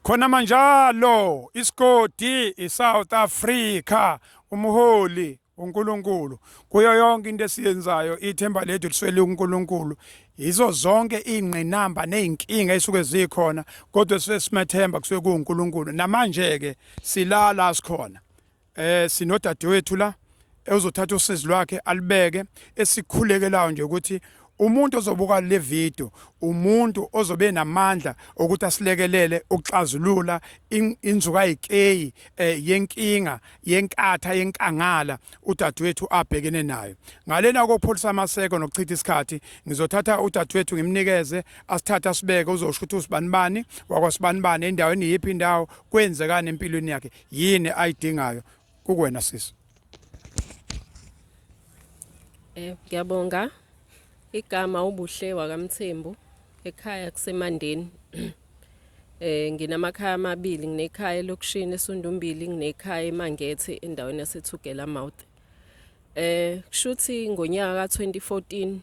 khona manjalo isigodi iSouth Africa umholi uNkulunkulu kuyo yonke into esiyenzayo ithemba lethu liswele uNkulunkulu yizo zonke ingqinamba nezinkinga esuke zikhona kodwa sesismethemba kusuke kuNkulunkulu namanje ke silala sikhona eh sinodadewethu la ewuzothatha usizi lwakhe alibeke esikhulekelayo nje ukuthi umuntu ozobuka le video umuntu ozobe namandla ukuthi asilekelele ukuxazulula inzuka yikeyi eh, yenkinga yenkatha yenkangala udadewethu abhekene nayo ngalena kokupholisa amaseko nokuchitha isikhathi ngizothatha udadewethu ngimnikeze asithatha sibeke uzosho ukuthi usibanibani wakwasibanibani endaweni yiphi indawo kwenzekani empilweni yakhe yini ayidingayo kukwena sisi Eh ngiyabonga igama ubuhle wakamthembu ekhaya kusemandeni eh nginamakhaya amabili nginekhaya elokushini esundumbili nginekhaya emangethe endaweni yasethugela mouth eh kushuthi ngonyaka ka2014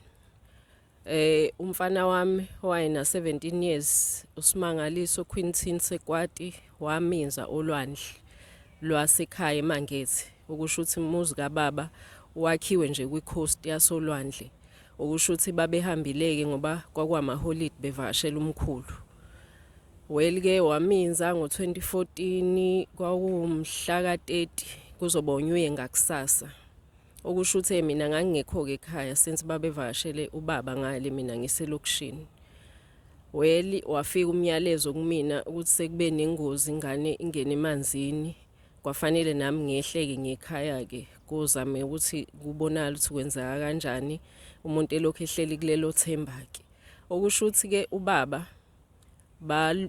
Eh umfana wami wayena 17 years uSimangaliso Quintin Sekwati waminza olwandle lwasekhaya eMangethi okusho ukuthi umuzi kababa wakhiwe nje kwicoast yasolwandle okusho ukuthi babehambileke ngoba kwakwamaholidi bevakashela umkhulu welike waminza ngo-2014 kwawumhla ka-30 kuzoba unyuye ngakusasa okusho ukuthi mina ngangingekho-ke ekhaya since babevakashele ubaba ngale mina ngiselokishini well wafika umyalezo kumina ukuthi sekube nengozi ingane ingene emanzini kwafanele nami ngehleke ngekhaya-ke kuzame ukuthi kubonakala ukuthi kwenzeka kanjani umuntu elokhu ehleli kulelo themba-ke okusho ukuthi-ke ubaba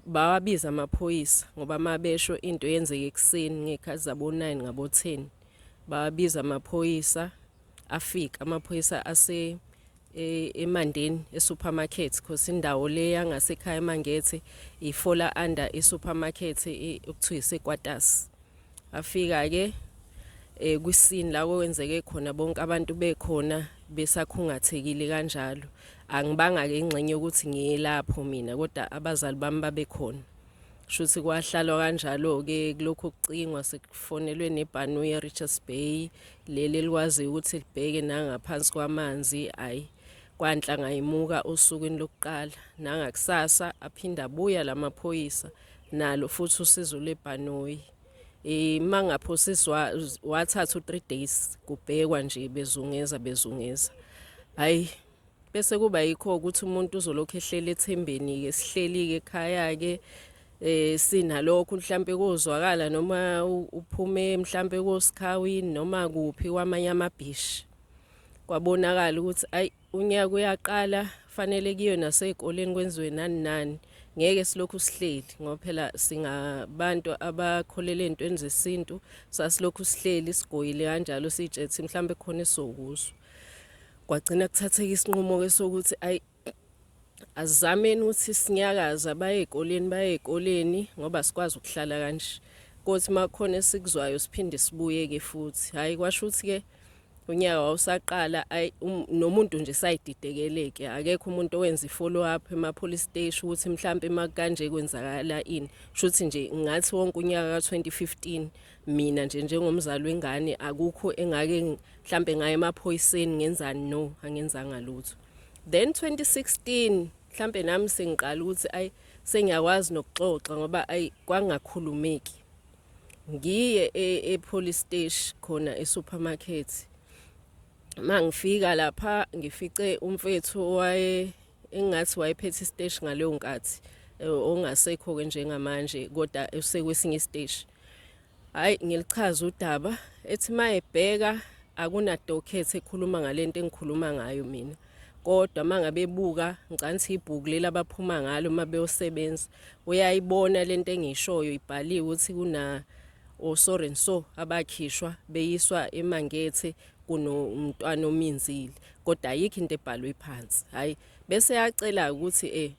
bawabiza amaphoyisa ngoba mabesho into yenzeke ekuseni ngekhathi zabo 9 ngabo 10 bawabiza amaphoyisa afika amaphoyisa ase e, emandeni esupermarket because indawo le yangasekhaya emangethe ifola under isupermarket e, okuthiwa isekwatas afika ke eh kwisini la kwenzeke khona bonke abantu bekhona besakhungathekile kanjalo angibanga ke ingxenye ukuthi ngiyelapho mina kodwa abazali bami babekhona shuthi kwahlalwa kanjalo ke kulokho kucingwa sekufonelwe nebhanu ye Richards Bay leli likwazi ukuthi libheke nangaphansi kwamanzi ayi kwanhla ngayimuka osukwini lokuqala nangakusasa aphinda buya lamaphoyisa la nalo futhi usizo lwebhanoyi uma eh, ngaphosiswa wathatha u-three days kubhekwa nje bezungeza bezungeza hhayi bese kuba yikho ukuthi umuntu uzolokhu ehleli ethembeni-ke sihleli-ke ekhaya-ke eh sinalokho mhlambe kozwakala noma uphume mhlambe koSikhawini noma kuphi kwamanye amabhishi kwabonakala ukuthi ayi Unyaka uyaqala fanele kuyiwe nasey'koleni kwenziwe nani nani ngeke silokhu sihleli ngoba phela singabantu abakholele entweni zesintu sasilokhu sihleli sigoyile kanjalo sitshethi mhlawumbe khona esizokuswa kwagcina kuthatheka isinqumo ke sokuthi ayi azizameni ukuthi sinyakaza baye ezikoleni baye ezikoleni ngoba sikwazi ukuhlala kanje kothi makukhona esikuzwayo siphinde sibuye ke futhi hayi kwasho ukuthi ke unyaka wawusaqala ayi um, nomuntu nje sayididekeleke akekho umuntu owenza i-follow up ema-police station ukuthi mhlawumpe makanje kwenzakala ini shuthi nje ngathi wonke unyaka ka-2015 mina nje njengomzali wengane akukho engake mhlawumpe ngaye emaphoyiseni ngenzani no angenzanga lutho then 2016 mhlawumpe nami sengiqala ukuthi ayi sengiyakwazi nokuxoxa ngoba ayi kwangakhulumeki ngiye e, e-police station khona e-supermarket mangifika lapha ngifice umfethu owaye engathi wayephethe isiteshi ngaleyo nkathi eh, ongasekho-ke njengamanje kodwa usekwesinye isiteshi hhayi ngilichaza udaba ethi uma ebheka akunadoket ekhuluma ngale nto engikhuluma ngayo mina kodwa uma ngabe ebuka ngicanthi ibhuku leli abaphuma ngalo uma beyosebenza uyayibona le nto engishoyo ibhaliwe ukuthi kuna osore oh, nso abakhishwa beyiswa emangethe kunomntwana ominzile kodwa ayikho into ebhalwe phansi hayi bese yacela ukuthi eh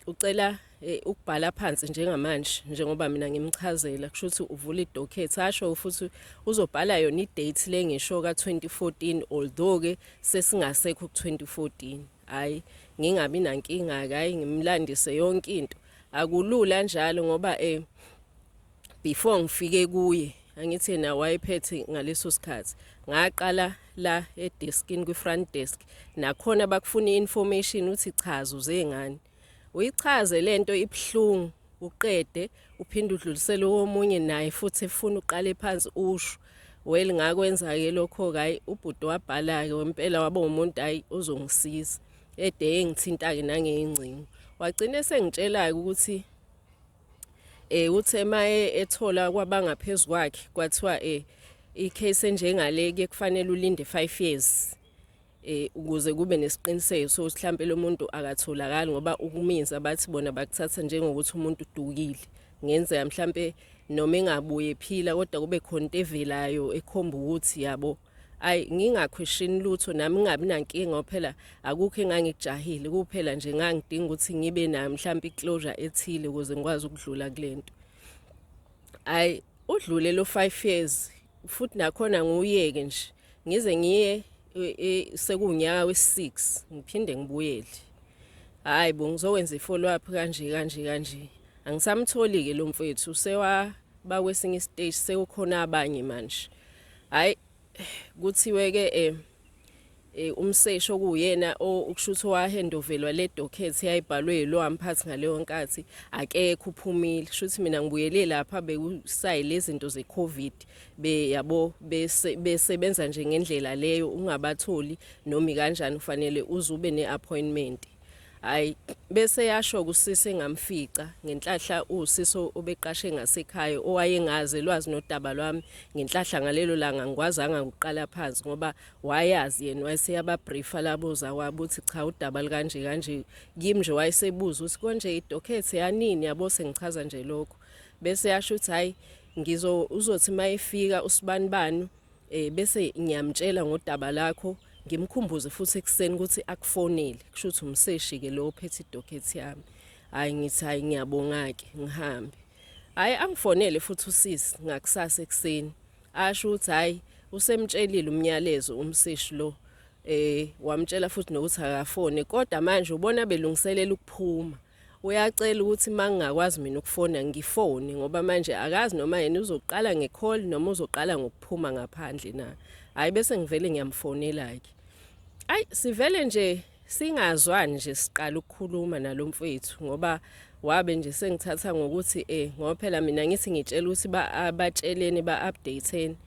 ucela eh, ukubhala phansi njengamanje njengoba mina ngimchazela kusho ukuthi uvula idocket asho futhi uzobhala yona idate le ngisho ka-2014 although ke sesingasekho ku-2014 hhayi ngingabi nankinga-ke hhayi ngimlandise yonke into akulula njalo ngoba um before ngifike kuye angithi yena wayephethe ngaleso sikhathi ngaqala la edeskini kwi-front desk nakhona bakufuna i-information uthi chaza uze ngani uyichaze le nto ibuhlungu uqede uphinde udlulisele womunye naye futhi efuna uqale phansi usho well ngakwenza-ke lokho-ke hhayi ubhuti wabhala-ke wempela waba umuntu hhayi ozongisiza ede engithinta-ke nangeyingcingo wagcina esengitshela-ke ukuthi Eh uthe maye ethola kwabangaphezulu kwakhe kwathiwa eh icase enjengale ke kufanele ulinde 5 years eh ukuze kube nesiqiniseko sokuthi mhlambe lo muntu akatholakali ngoba ukuminza bathi bona bakuthatha njengokuthi umuntu udukile ngenzeka mhlambe noma engabuye phila kodwa kube khona into evelayo ekhomba ukuthi yabo ayi ngingakhwishini lutho nami ngingabi nankinga phela akukho engangikujahile kuphela nje ngangidinga ukuthi ngibe nayo mhlawumbe iclosure ethile ukuze ngikwazi ukudlula kulento ayi udlule lo 5 years futhi nakhona nguyeke nje ngize ngiye e, e, sekunyaka we6 ngiphinde ngibuyele hayi bo ngizokwenza ifollow up kanje kanje kanje angisamtholi ke lo mfethu sewa bakwesinye istage sekukhona abanye manje Hayi kuthiwe ke eh eh umseshi okuyena ukushuthi owahendovelwa le docket yayibhalwe yilo amphathi ngaleyo nkathi akekho uphumile shuthi mina ngibuyele lapha bekusayi lezinto ze covid be yabo besebenza nje ngendlela leyo ungabatholi nomi kanjani ufanele uzube neappointment Hayi bese yasho kusisi engamfica ngenhlahla usisi obeqashe ngasekhaya owayengazi elwazi nodaba lwami ngenhlahla ngalelo langa ngikwazanga ukuqala phansi ngoba wayazi yena wayeseyababriefa laboza wabuthi cha udaba likanje kanje kimi nje wayesebuza ukuthi konje idokhethi yanini yabo sengichaza nje lokho bese yasho ukuthi hayi ngizo uzothi mayefika usibanibani eh bese ngiyamtshela ngodaba lakho ngimkhumbuze futhi ekuseni ukuthi akufonele kusho ukuthi umseshi ke lo ophethe idocket yami hayi ngithi hayi ngiyabonga ke ngihambe hayi angifonele futhi usisi ngakusasa ekuseni asho ukuthi hayi usemtshelile umnyalezo umseshi lo eh wamtshela futhi nokuthi akafone kodwa manje ubona belungiselela ukuphuma Uyacela ukuthi uma ngingakwazi mina ukufona ngifone ngoba manje akazi noma yena uzoqala nge-call noma uzoqala ngokuphuma ngaphandle na. Hhayi bese ngivele ngiyamfonela-ke. Ayi sivele nje singazwani nje siqala ukukhuluma nalo mfwethu ngoba wabe nje sengithatha ngokuthi eh ngoba phela mina ngithi ngitshela ukuthi ba-abatsheleni ba-updateni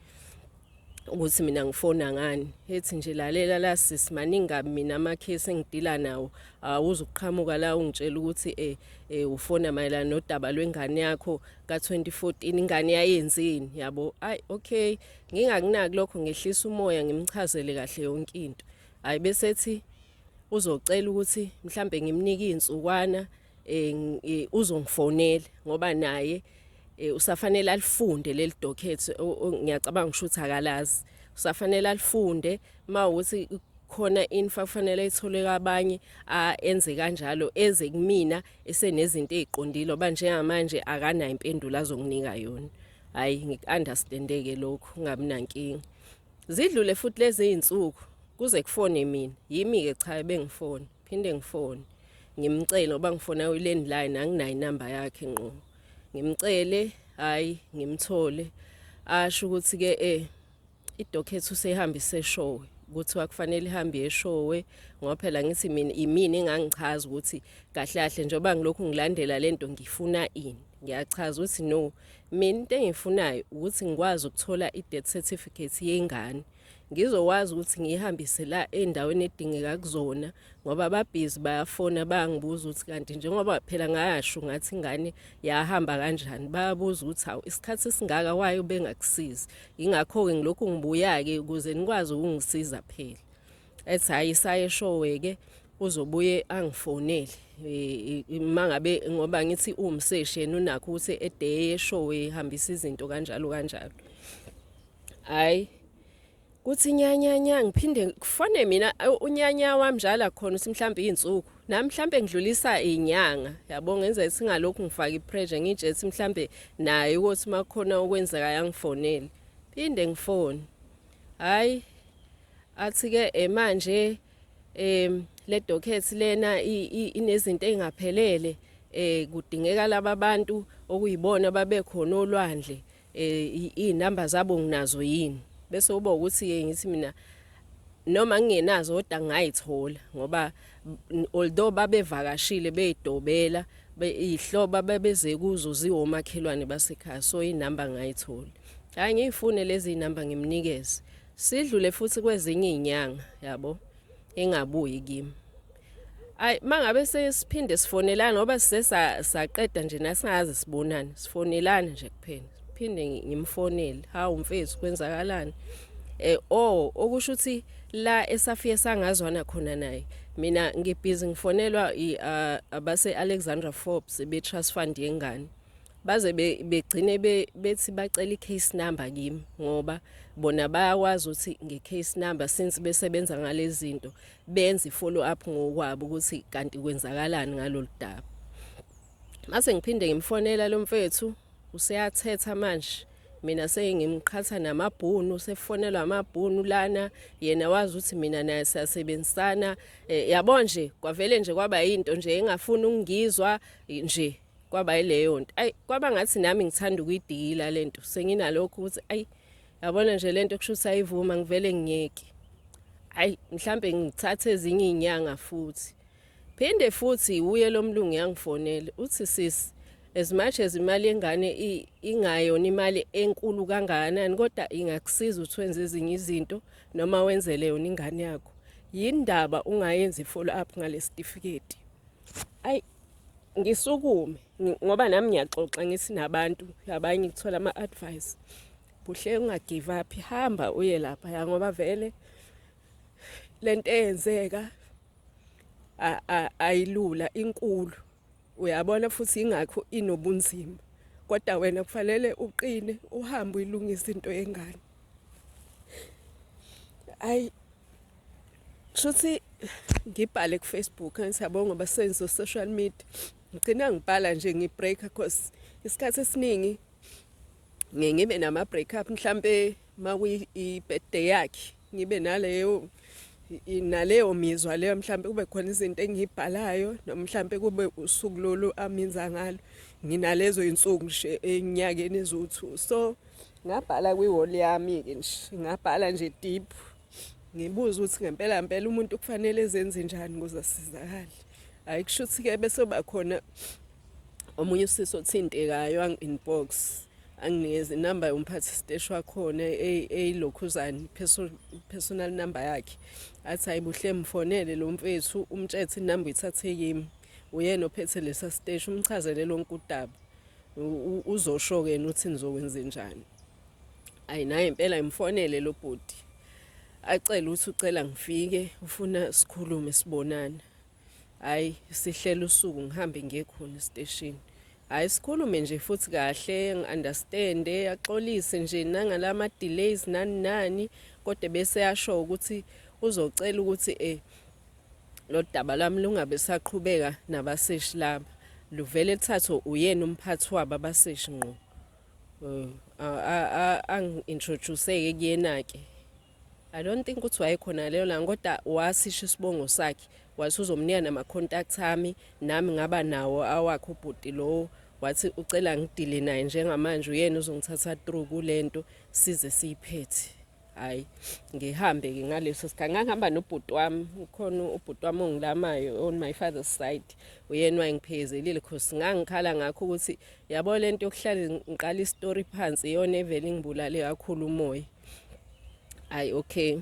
ukuthi mina ngifona ngani ethi nje lalela la sis maningi kabi mina amakhesi engidila nawo awuze uqhamuka la ungitshela ukuthi eh, eh ufona mayelana nodaba lwengane yakho ka2014 ingane yayenzini yabo ay okay ngingakunaki lokho ngehlisa umoya ngimchazele kahle yonke into hayi bese ethi uzocela ukuthi mhlambe ngimnike insukwana eh, eh uzongifonela ngoba naye eh, usafanele alifunde leli docket ngiyacabanga ngisho ukuthi akalazi usafanele alifunde mawuthi khona infa kufanele ithole kabanye enze kanjalo eze kumina esenezinto eziqondile oba njengamanje akanayo impendulo azonginika yona hayi ngikunderstandeke lokho ngabi nankingi zidlule futhi lezi izinsuku kuze kufone mina yimi ke cha bengifone phinde ngifone ngimcele ngoba ngifona i-landline anginayo inamba yakhe ngqo ngimcele hhayi ngimthole asho ukuthi-ke um eh, idokhethi usehambe iseshowe kuthiwa kufanele ihambe yeshowe ngoba phela ngithi mina imini engangichaza ukuthi kahle kahle njengoba ngilokhu ngilandela le nto ngifuna ini ngiyachaza ukuthi no mina into engifunayo ukuthi ngikwazi ukuthola i-death certificate yengane ngizokwazi ukuthi ngiyihambise la endaweni edingeka kuzona ngoba babhizi bayafona bayangibuza ukuthi kanti njengoba phela ngayasho ngathi ingane yahamba kanjani bayabuza ukuthi hawu isikhathi esingaka wayo bengakusizi ingakho-ke ngilokhu ngibuya-ke ukuze nikwazi ukungisiza phela ethi hhayi isaye eshowe-ke uzobuye angifonele Eh, eh, mangabe ngoba ngithi uwumseshi yena unakho ukuthi edeye show ehambisa izinto kanjalo kanjalo Hayi. Kuthi nyanyanya ngiphinde kufone mina unyanya wami njalo akhona uthi mhlawumbe izinsuku. Nami mhlawumbe ngidlulisa izinyanga. Yabo ngenza isingalokhu ngifaka ipressure ngitshe ukuthi mhlawumbe naye ukuthi makhona okwenzeka yangifonele. Phinde ngifone. Hayi athi ke eh, manje em le docket lena inezinto ezingaphelele eh kudingeka laba bantu okuyibona babekhona olwandle eh izinamba zabo nginazo yini bese uba ukuthi ke ngithi mina noma ngingenazo kodwa ngayithola ngoba although babevakashile beyidobela ihloba babeze kuzo ziwomakhelwane basekhaya so inamba ngayithola hayi ngiyifune lezi zinamba ngimnikeze sidlule futhi kwezinye izinyanga yabo ingabuyi kimi ayi mangabe sesiphinde sifonelana ngoba sisesa saqeda nje nasingaze sibonane sifonelana nje kuphela phinde ngimfonele hawu mfethu kwenzakalani eh oh okusho ukuthi la esafike sangazwana khona naye mina ngibhizi ngifonelwa abase Alexandra Forbes be trust fund yengane baze begcine bethi bacela i-case number kimi ngoba bona bayakwazi ukuthi nge-case number since besebenza ngale zinto benze i-follow up ngokwabo ukuthi kanti kwenzakalani ngalolu daba mase ngiphinde ngimfonela lo mfethu useyathetha manje mina sengimqhatha namabhunu sefonelwa amabhunu lana yena wazi ukuthi mina naye siyasebenzisana eh, yabo nje kwavele nje kwaba yinto nje engafuni ukungizwa nje kwaba yileyo nto ayi kwaba ngathi nami ngithanda ukuyidikila le nto senginalokho ukuthi ayi yabona nje le nto kusho ukuthi ayivuma ngivele ngiyeke ayi mhlampe ngithathe ezinye iy'nyanga futhi phinde futhi wuye lo mlungu yangifonele uthi sisi as much as imali yengane ingayona imali enkulu kangakanani kodwa ingakusiza ukuthi wenze ezinye izinto noma wenzele yona ingane yakho yini ndaba ungayenzi i-follow up ngalesitifiketi ayi ngisukume ngoba nami ngiyaxoxa ngithi nabantu abanye ngithola ama-advice buhle ungagive up hamba uye lapha ya ngoba vele le nto eyenzeka ayilula inkulu uyabona futhi ingakho inobunzima kodwa wena kufanele uqine uhambe uyilungisa into yengane ayi shuthi ngibhale kufacebook angisiyabonga ngoba senze social media ngigcina ngibhala nje ngibreaker cause isikhathi esiningi ngiye ngibe nama-break up mhlampe uma kuyi-birthday yakhe ngibe naleyo naleyo mizwa leyo mhlampe kube khona izinto engiyibhalayo noma mhlampe kube usuku lolu aminza ngalo nginalezo iy'nsuku nje enyakeni eziwu-two so Ngabhala kwi-wall yami-ke nje ngabhala nje deep ngibuze ukuthi ngempela mpela umuntu kufanele ezenze njani ukuze asizakale hhayi kusho ukuthi-ke bese uba khona omunye usisi othintekayo angi-inbox anginikeze inamba yomphathi siteshi wakhona eyilokhuzane personal number yakhe athi hayi buhle mfonele lo mfethu umtshethe inamba uyithathe kimi uyena ophethe lesa siteshi umchazele lonke udaba uzosho ke uthi nizokwenze njani ayi naye impela imfonele lo bhuti acela ukuthi ucela ngifike ufuna sikhulume sibonana hayi sihlela usuku ngihambe ngiye khona esiteshini hayi sikhulume nje futhi kahle ngi-understande axolise nje nangala ma-delays nani nani kodwa bese yasho ukuthi uzocela ukuthi um lodaba lami lungabe saqhubeka nabaseshi laba luvele thathwe uyena umphathi wabo abaseshi ngqo eh, angi-introduce-ke kuyena-ke i don't think ukuthi wayekhona leyo langa kodwa wasisho isibongo sakhe wathi uzomnika nama-contact ami nami ngaba nawo awakhe ubhuti lowo wathi ucela ngidile naye njengamanje uyena uzongithatha through kule nto size siyiphethe hayi ngihambe-ke ngaleso sikhathi ngangihamba nobhuti wami ukhona ubhuti wami ongilamayo on my father's side uyena wayengiphekezelile cause ngangikhala ngakho ukuthi yabo le nto yokuhlale ngiqala isitori phansi iyona evele ingibulale kakhulu umoya hayi okay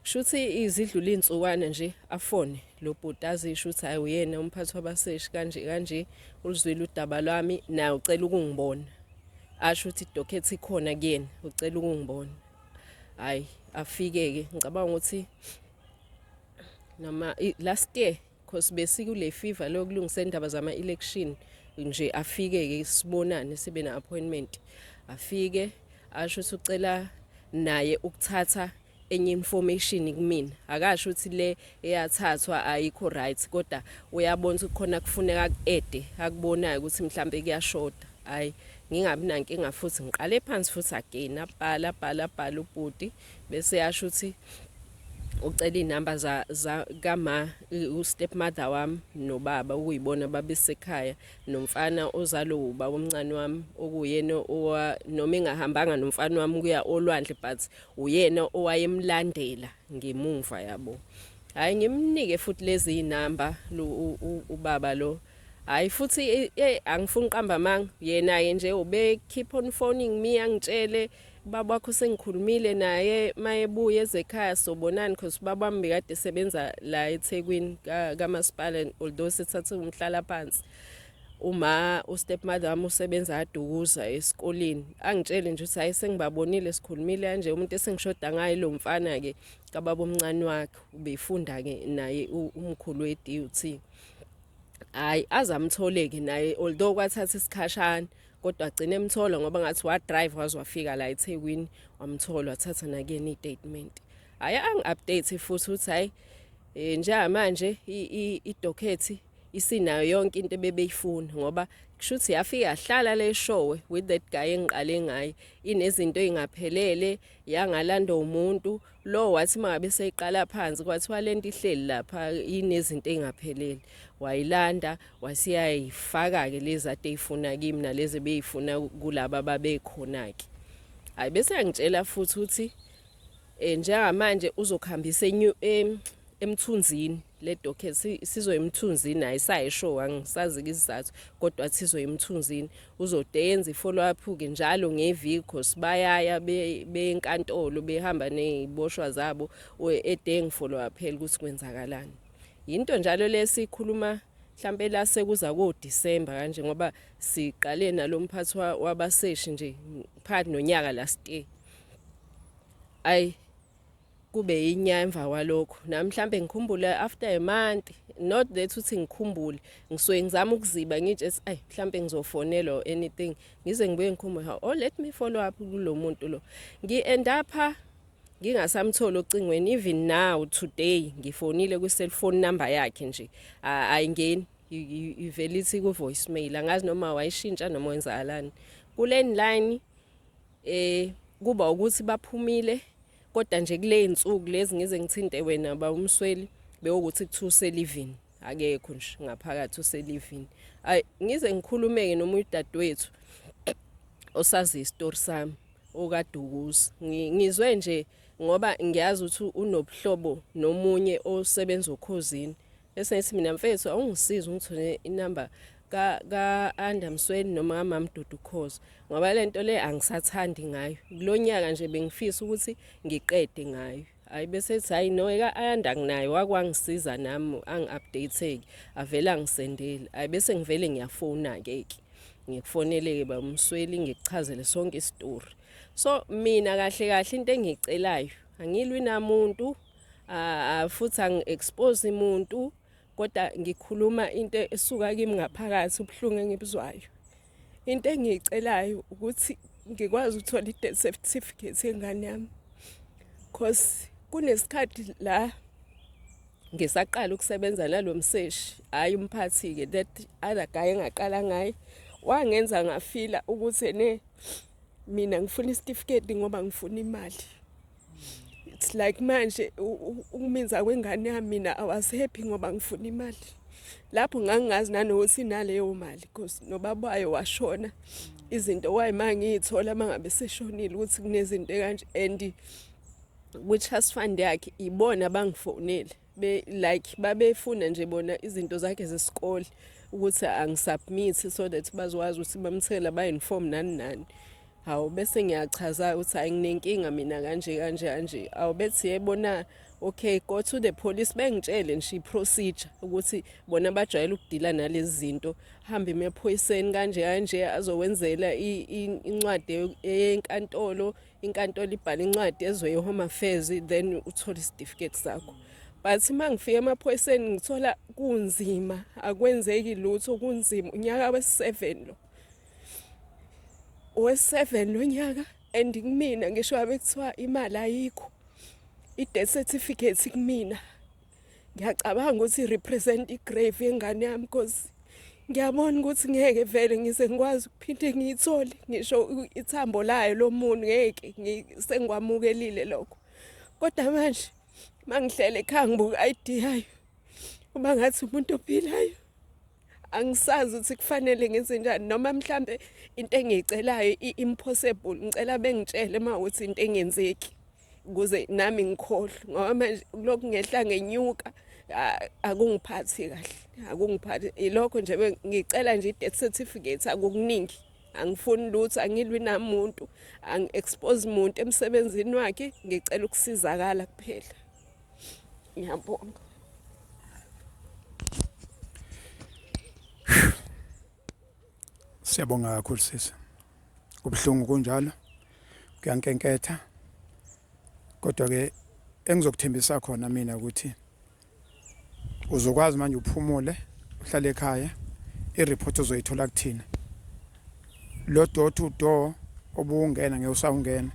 Shuthi izidlula izinsukwana nje afone lo bhuti azisho ukuthi hayi uyena umphathi wabaseshi kanje kanje ulizwile udaba lwami naye ucela ukungibona asho ukuthi idokhethi ikhona kuyena ucela ukungibona hayi afike-ke ngicabanga ukuthi noma last year Because besikule fever lokulungisa indaba zama election nje afike ke sibonane sibe na appointment afike asho ukuthi ucela naye ukuthatha enye information kumina akasho ukuthi le eyathathwa ayikho right kodwa uyabona ukuthi khona kufuneka kuede akubonayo ukuthi mhlambe kuyashoda hayi ngingabi nankinga futhi ngiqale phansi futhi again abhala abhala abhala ubhuti bese yasho ukuthi ucela iy'namba za, za kama u-step mother wami nobaba okuyibona babesekhaya nomfana ozalo uba omncane wami okuyena owa noma engahambanga nomfana wami kuya olwandle but uyena owayemlandela ngemumva yabo hayi ngimnike futhi lezi iy'namba ubaba lo hayi futhi eh, eh, angifuni uqamba amanga yena-ke nje ubekhipha on phoning me angitshele ubaba wakho sengikhulumile naye mayebuya ezekhaya sobonani because ubaba wami bekade esebenza la ethekwini kamasipala ka although sithathe umhlala phansi uma ustepmother wami usebenza adukuza esikoleni angitshele nje ukuthi hayi sengibabonile sikhulumile kanje umuntu esengishoda ngaye lo mfana-ke kababa omncane wakhe ubefunda-ke naye umkhulu we-dut hhayi azamthole-ke naye although kwathatha isikhashana kodwa agcine emthola ngoba ngathi wadrive waze wafika la ethekwini wamthola wathatha nakuyena i-statement hhayi angi-update futhi ukuthi hhayi um njengamanje idokhethi isinayo yonke into ebebeyifuna ngoba kusho ukuthi yafike yahlala le showe with that guy engiqale ngaye inezinto ey'ngaphelele yangalandwa umuntu lo wathi mangabe seyiqala phansi kwathiwa lento ihleli lapha inezinto engaphelele wayilanda wasiyayifaka ke lezi ade ifuna kimi nalezi beyifuna kulaba babekhona ke hayi bese yangitshela futhi ukuthi eh njengamanje uzokhambisa enyu emthunzini le docket sizoyemthunzini ayisayisho angisazi izizathu kodwa sizoyemthunzini uzode yenze i-follow up-ke njalo ngeviki cause bayaya benkantolo behamba ney'boshwa zabo edeng follow up phela ukuthi kwenzakalani yinto njalo le sikhuluma mhlampe la sekuza koDisemba kanje ngoba siqale nalomphathi wabaseshi nje phakathi nonyaka last year ay kube yinya emva kwalokho nami mhlambe ngikhumbule after a month not that uthi ngikhumbule ngisuke ngizama ukuziba ngitshe ethi ayi mhlambe ngizofonela or anything ngize ngibuye ngikhumbule ha oh let me follow up kulo muntu lo ngi end up ngingasamtholi ocingweni even now today ngifonile kwi cell phone number yakhe nje ayingeni ivele ithi ku voicemail angazi noma wayishintsha noma wenzakalani kule line Eh kuba ukuthi baphumile kodwa nje kule insuku lezi ngize ngithinte wena ba umsweli bewukuthi kuthiwa uselivini akekho nje ngaphakathi uselivini ay ngize ngikhulumeke noma udadewethu osazi isitori sami okadukuzi ngizwe nje ngoba ngiyazi ukuthi unobuhlobo nomunye osebenza okhozini bese ngithi mina mfethu awungisiza ungithole inamba ka-anda msweni noma kamamdudu cause ngoba le nto le angisathandi ngayo kulo nyaka nje bengifisa ukuthi ngiqede ngayo hayi besethi hayi no eka-ayanda nginayo wakwangisiza nami angi-updateki avele angisendeli hayi bese ngivele ngiyafowuna-ke ke ngikufoneleke ba umsweli ngikuchazele sonke isitori so mina kahle kahle into engiyicelayo angilwi namuntu futhi angi-expose muntu kodwa ngikhuluma into esuka kimi ngaphakathi ubuhlungu engibuzwayo into engiyicelayo ukuthi ngikwazi ukuthola i-death certificate yengane yami cause kunesikhathi la ngisaqala ukusebenza nalo mseshi hhayi umphathi-ke that other guy engaqala ngaye wangenza ngafila ukuthi ne mina ngifuna isitifiketi ngoba ngifuna imali it's like manje ukuminza kwengane yami mina awasephi ngoba ngifuna imali lapho ngangingazi nanokuthi inaleyo mali because nobaba wayo washona izinto wayima ngiyithola mangabe seshonile ukuthi kunezinto kanje and which has fund yakhe ibona bangifonele be like babefuna nje bona izinto zakhe zesikole ukuthi angisubmit so that bazokwazi ukuthi bamthela ba-inform nani nani hawu bese ngiyachaza ukuthi hayi nginenkinga mina kanje kanje kanje awu bethi yebona okay go to the police bengitshele nje i-procedure ukuthi bona bajwayele ukudila nalezi zinto hambe emaphoyiseni kanje kanje azokwenzela incwadi yenkantolo inkantolo ibhala incwadi ezwe ye-home affairs then uthole isitifiketi sakho but uma ngifika emaphoyiseni ngithola kunzima akwenzeki lutho kunzima unyaka wesi-seven lo owe-seven lo nyaka and kumina ngisho abe kuthiwa imali ayikho i-death certificate kumina ngiyacabanga ukuthi represent igrave yengane yami cause ngiyabona ukuthi ngeke vele ngize ngikwazi ukuphinde ngiyithole ngisho ithambo layo lomuntu ngeke sengikwamukelile lokho kodwa manje mangihlele ekhaya ngibuka i-ID yayo uma ngathi umuntu ophilayo angisazi ukuthi kufanele ngenze njani noma mhlambe into engiyicelayo i-impossible ngicela bengitshele uma ukuthi into engenzeki kuze nami ngikhohlwe ngoba manje kulokhu ngehla ngenyuka akungiphathi kahle akungiphathi ilokho nje ngicela nje i-death certificate akukuningi angifuni lutho angilwi namuntu angi-expose muntu emsebenzini wakhe ngicela ukusizakala kuphela ngiyabonga Siyabonga kakhulu sisi. Kubuhlungu kunjalo. Kuyankenketha. Kodwa ke engizokuthembisa khona mina ukuthi uzokwazi manje uphumule uhlale ekhaya ireport uzoyithola kuthina. Lo door to door obungena ngewusawungena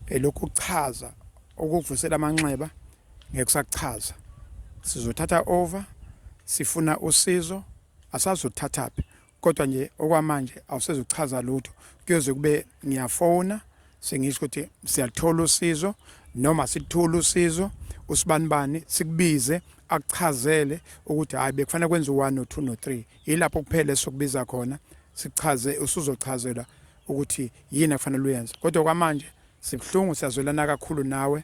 elokhu kuchaza ukuvusela amanxeba ngeke sakuchaza. Sizothatha over sifuna usizo asazi uthathaphi kodwa nje okwamanje awusezuchaza lutho kuyoze kube ngiyafona sengisho ukuthi siyathola usizo noma sithula usizo usibanibani sikubize akuchazele ukuthi hayi bekufanele kwenze u-1 no-2 no-3 yilapho kuphela esokubiza khona sichaze usuzochazelwa ukuthi yini akufanele uyenze kodwa kwamanje sibuhlungu siyazwelana kakhulu nawe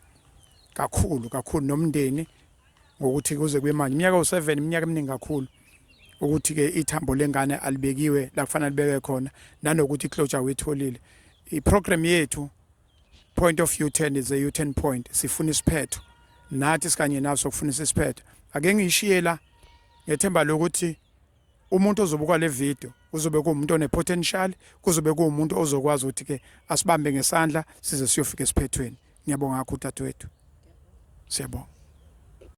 kakhulu kakhulu nomndeni ngokuthi kuze kube manje iminyaka u7 iminyaka eminingi kakhulu ukuthi ke ithambo lengane alibekiwe la kufanele libeke khona nanokuthi iclosure uyitholile iprogram yethu point of u10 is a u10 point sifuna isiphetho nathi sikanye naso kufunisa isiphetho ake ngishiye la ngethemba lokuthi umuntu ozobuka le video kuzobe kuwumuntu onepotential kuzobe kuwumuntu ozokwazi ukuthi ke asibambe ngesandla size siyofika esiphethweni ngiyabonga kakhulu dadewethu siyabonga